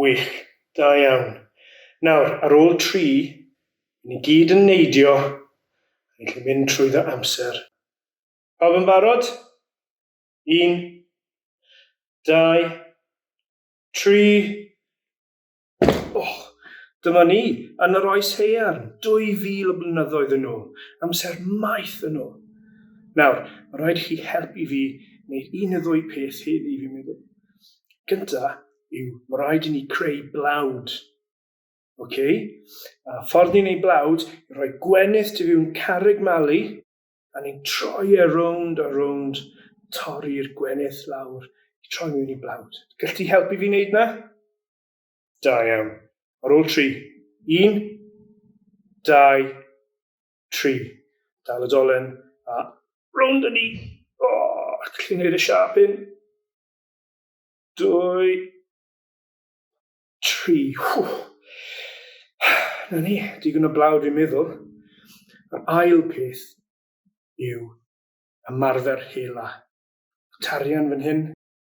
Wych. Da iawn. Nawr, ar ôl tri, i ni gyd yn neidio, a ni'n gallu mynd trwyddo amser. Pawb yn barod? Un, dau, tri. Och! Dyma ni, yn yr Oes Haearn, 2000 o blynyddoedd yn ôl. Amser maith yn ôl. Nawr, mae'n rhaid i chi helpu fi wneud un neu ddwy peth heddi, fi'n meddwl. Gynta, yw mae rhaid i ni creu blawd. Okay? A ffordd ni'n ei blawd, i roi gwenith tu fiwn carreg malu, a ni'n troi e rownd a rownd, torri'r gwenith lawr, i troi mewn i blawd. Gall ti helpu fi wneud na? Da iawn. Ar ôl tri. Un, dau, tri. Dal y dolen, a rownd â ni. O, oh, chi'n gwneud y siap hyn? Dwy. Tri. Hww. Na ni, digon o blaw dwi'n meddwl. Yr ail peth yw ymarfer hela. Tarian fan hyn.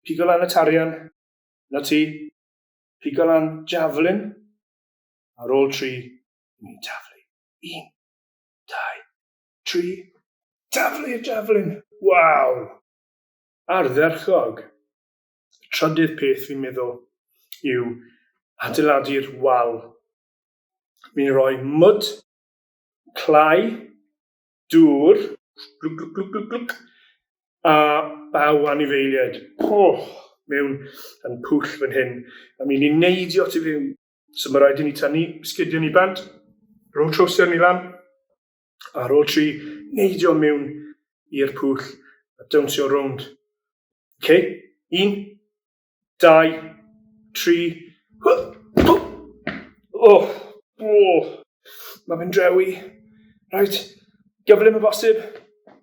Pigo lan y tarian. Na ti. Pigo lan javelin. Ar ôl tri, ni'n taflu. Un. Dau. Tri. Taflu y javelin. Waw! ardderchog. Y trydydd peth fi'n meddwl yw adeiladu'r wal. Fi'n rhoi mwd, clai, dŵr, glwc, glwc, glwc, glwc, glwc, a baw anifeiliaid. Poch! mewn yn pwll fan hyn. A mi'n ni'n neidio tu fewn. So mae rhaid i ni tynnu sgidiau ni bant, rho trowsiau ni lan, Ar ôl tri, neidio mewn i'r pwll a dawnsio rownd. OK? Un, dau, tri. Oh, oh. Mae fe'n drewi. Reit, gyflym y bosib.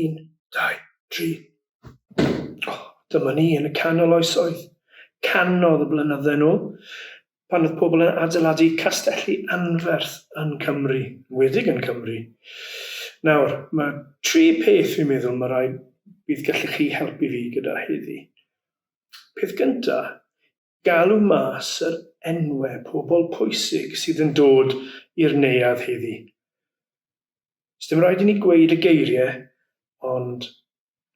Un, dau, tri. O, dyma ni yn y canol oesoedd. Canodd y blynydde nhw, pan oedd pobl yn adeiladu castelli anferth yn Cymru, wedig yn Cymru. Nawr, mae tri peth fi'n meddwl mae rhaid bydd gallu chi helpu fi gyda heddi. Peth gyntaf, galw mas yr enwe pobl pwysig sydd yn dod i'r neuadd heddi. Sdim rhaid i ni gweud y geirie, ond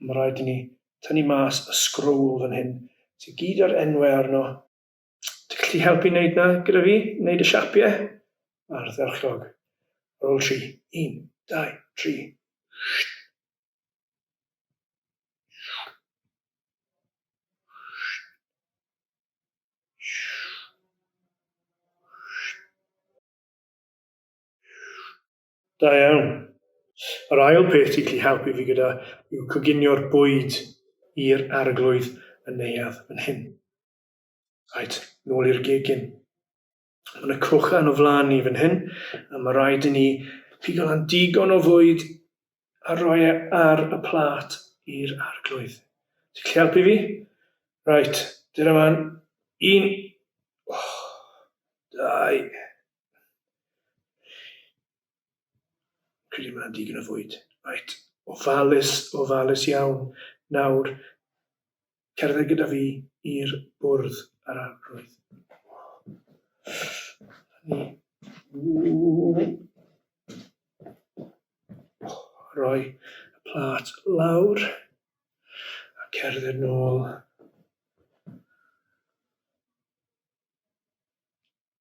ma raid i ni tynnu mas y scrowl fan hyn sy gyd a'r enwe arno. Ti gallu helpu neud na gyda fi, neud y siapie? Ardderchog. Ar ol tri, un, dau, tri. Shhh. Da iawn. Yr ail peth ti'n gallu helpu fi gyda yw coginio'r bwyd i'r arglwydd yn neuadd yn hyn. Right, nôl i'r gegin. Mae yna crochan o flaen ni fan hyn, a mae rhaid i ni pigo lan digon o fwyd a rhoi e ar y plat i'r arglwydd. Ti'n gallu helpu fi? Right, dyna fan. Un. Oh, dau. Credu mae'n digon o fwyd. Right, ofalus, ofalus iawn. Nawr, cerdded gyda fi i'r bwrdd yr arglwydd. Rhoi y plat lawr a cerdded nôl.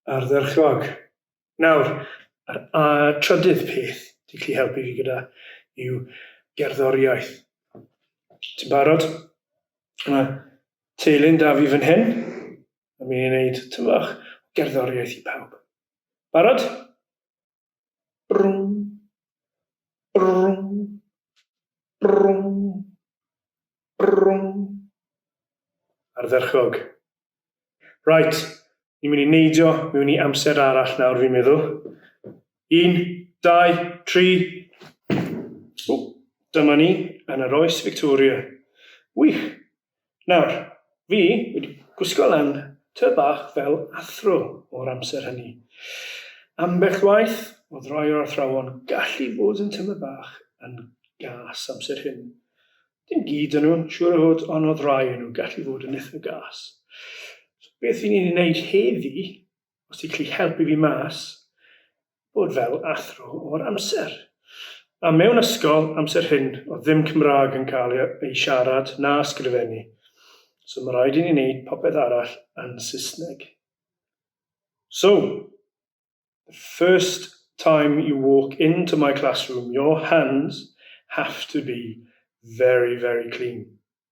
ardderchog. Nawr, yr a, trydydd peth ti'n gallu helpu fi gyda yw gerddoriaeth. Ti'n barod? Mae teulu'n da fi fan hyn. Mae mi'n ei wneud tyfach gerddoriaeth i pawb. Barod? Brwm. Brwm. Brwm. Brwm. Ardderchog. Right, ni'n mynd i neidio mewn i amser arall nawr fi'n meddwl. Un, dau, tri. O, dyma ni yn yr oes Victoria. Wych! Nawr, fi wedi gwisgo lan tŷ bach fel athro o'r amser hynny. Ambell waith, oedd rhai o'r athrawon gallu bod yn tymed bach yn gas amser hyn. Dim gyd o nhw, siŵr o fod, ond oedd rhai o nhw gallu fod yn itha gas. So beth 'yn ni'n ei wneud heddi os ti'n gallu helpu fi mas, bod fel athro o'r amser. A mewn ysgol, amser hyn, o ddim Cymraeg yn cael ei siarad na sgrifennu. So mae rhaid i ni wneud popeth arall yn Saesneg. So, the first time you walk into my classroom, your hands have to be very, very clean.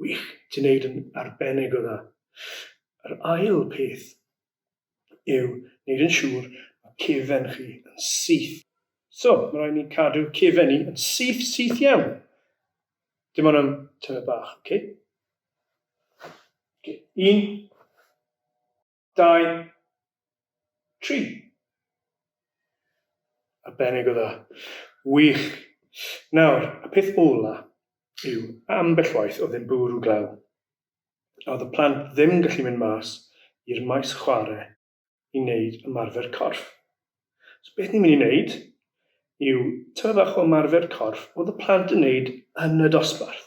Wych, ti'n neud yn arbennig o dda. Yr ail peth yw neud yn siŵr mae cefen chi yn syth. So, mae rhaid ni cadw cefen ni yn syth, syth iawn. Dim ond am tymed bach, oce? Okay. Un, dau, tri. Arbennig o dda. Wych. Nawr, y peth ola yw, ambell waith oedd e'n bwrw glaw. A oedd y plant ddim yn gallu mynd mas i'r maes chwarae i wneud ymarfer corff. So beth ni'n mynd i wneud yw tymed fach o ymarfer corff oedd y plant yn wneud yn y dosbarth.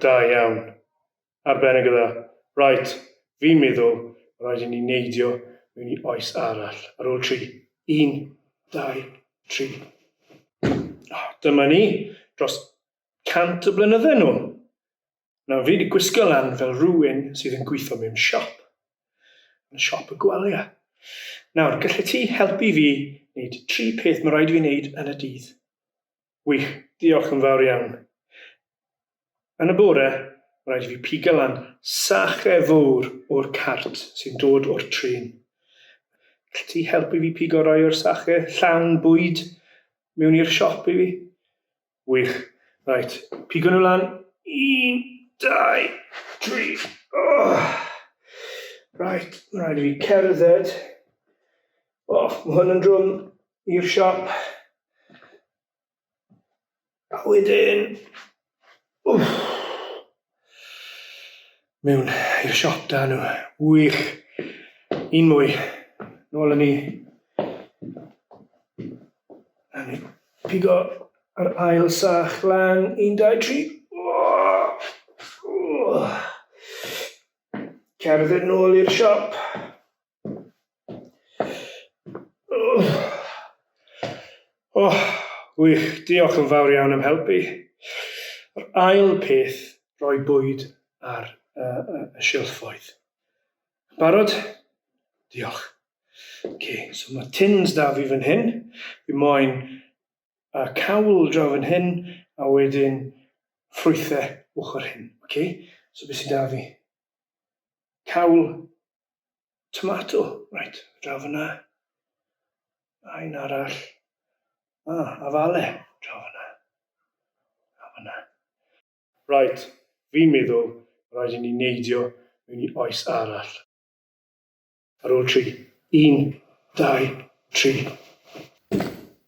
Da iawn. Arbennig o dda. Right, fi'n meddwl ma' raid i ni neidio mewn i oes arall. Ar ôl tri. Un, dau, tri. O, dyma ni, dros cant o blynydde nôl. Nawr fi 'di gwisgo lan fel rhywun sydd yn gweithio mewn siop. Yn siop y gwalia. Nawr, gallet ti helpu fi wneud tri peth ma' raid i fi wneud yn y dydd? Gwych, diolch yn fawr iawn. Yn y bore, rhaid i fi pigo lan sache fawr o'r cart sy'n dod o'r trin. Gall ti helpu fi pigo rai o'r sache llawn bwyd mewn i'r siop i fi? Wych. Rhaid, pigo nhw lan. Un, dau, tri. Oh! Rhaid, rhaid i fi cerdded O, mae hwn yn drwm i'r siop. A wedyn... Wff! Mewn i'r siop da nhw. Wych! Un mwy. Nôl yn ni. A ni pigo yr ail sach lan. Un, dau, tri. Cerdded nôl i'r siop. O, wych, diolch yn fawr iawn am helpu. Yr ail peth, rhoi bwyd ar y, y, y silffoedd. Barod? Diolch. Okay, so mae tins da fi fan hyn. Fi moyn y cawl draw fan hyn, a wedyn ffrwythau ochr hyn. Okay? So beth sy'n da fi? Cawl, Tomato, right, draw fyna. A un arall. A, ah, afale, draw fyna. A fyna. Right, fi'n meddwl rhaid i ni neidio mewn i oes arall. Ar ôl tri. Un, dau, tri.